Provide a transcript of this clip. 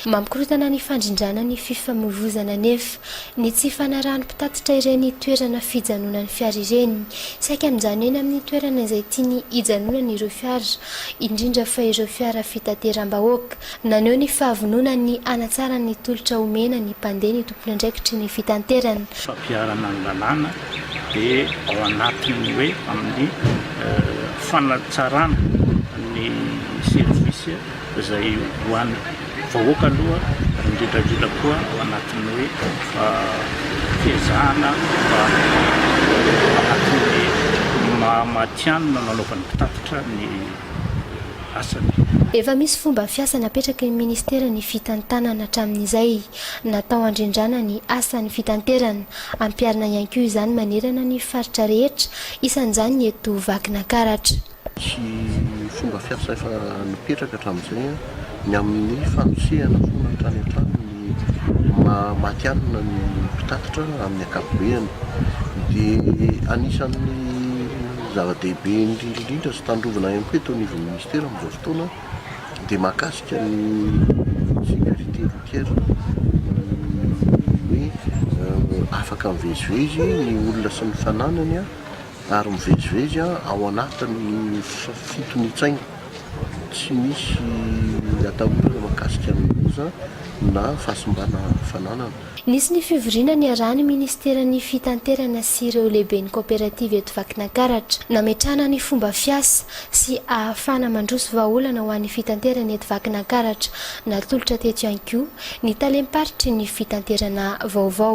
Mamikorontana ny fandrindrana ny fifamoivoizana anefa ny tsy fanarahan'ny mpitatitra ireny toerana fijanonan'ny fiara ireny. Saika mijanona eny amin'ny toerana izay tiany hijanonana ireo fiara, indrindra fa ireo fiara fitateram-bahoaka. Naneho ny fahavononany hanatsara ny tolotra omena ny mpandeha ny tompon'andraikitry ny fitanterana. fampiharana ny lalàna dia ao anatin'ny hoe amin'ny fanatsarana ny service. izay ho an'ny vahoaka aloha, indrindra indrindra koa ao anatin'ny hoe fiezahana mba anatin'ny maha matihanina nanaovan'ny mpitatitra ny asany. Efa misy fomba fiasa napetraky ny Ministera ny fitantanana hatramin'izay natao handrindrana ny asan'ny fitanterana. Ampiharina ihany koa izany manerana ny faritra rehetra, isan'izany ny eto Vakinankaratra. sy fomba fiasa efa nipetraka hatramin'izay, ny amin'ny fanosehana foana hatrany an-trano ny maha matihanina ny mpitatitra amin'ny ankapobeny. Dia anisan'ny zava-dehibe indrindra sy tandrovana ihany koa eto anivon'ny minisitera amin'izao fotoana dia mahakasika ny sécurité routière, ny hoe afaka mivezivezy ny olona sy ny fananany. Ary mivezivezy ao anatin'ny fitonitsaina tsy misy atahorana mahakasika ny loza na fahasimbana fananana. Nisy ny fivoriana niarahan'ny Ministeran'ny Fitanterana sy ireo lehiben'ny kaoperativa eto Vakinankaratra, nametrahana ny fomba fiasa sy ahafahana mandroso vahaolana ho an'ny fitanterana eto Vakinankaratra. Natolotra teto ihany koa ny talem-paritry ny fitanterana vaovao.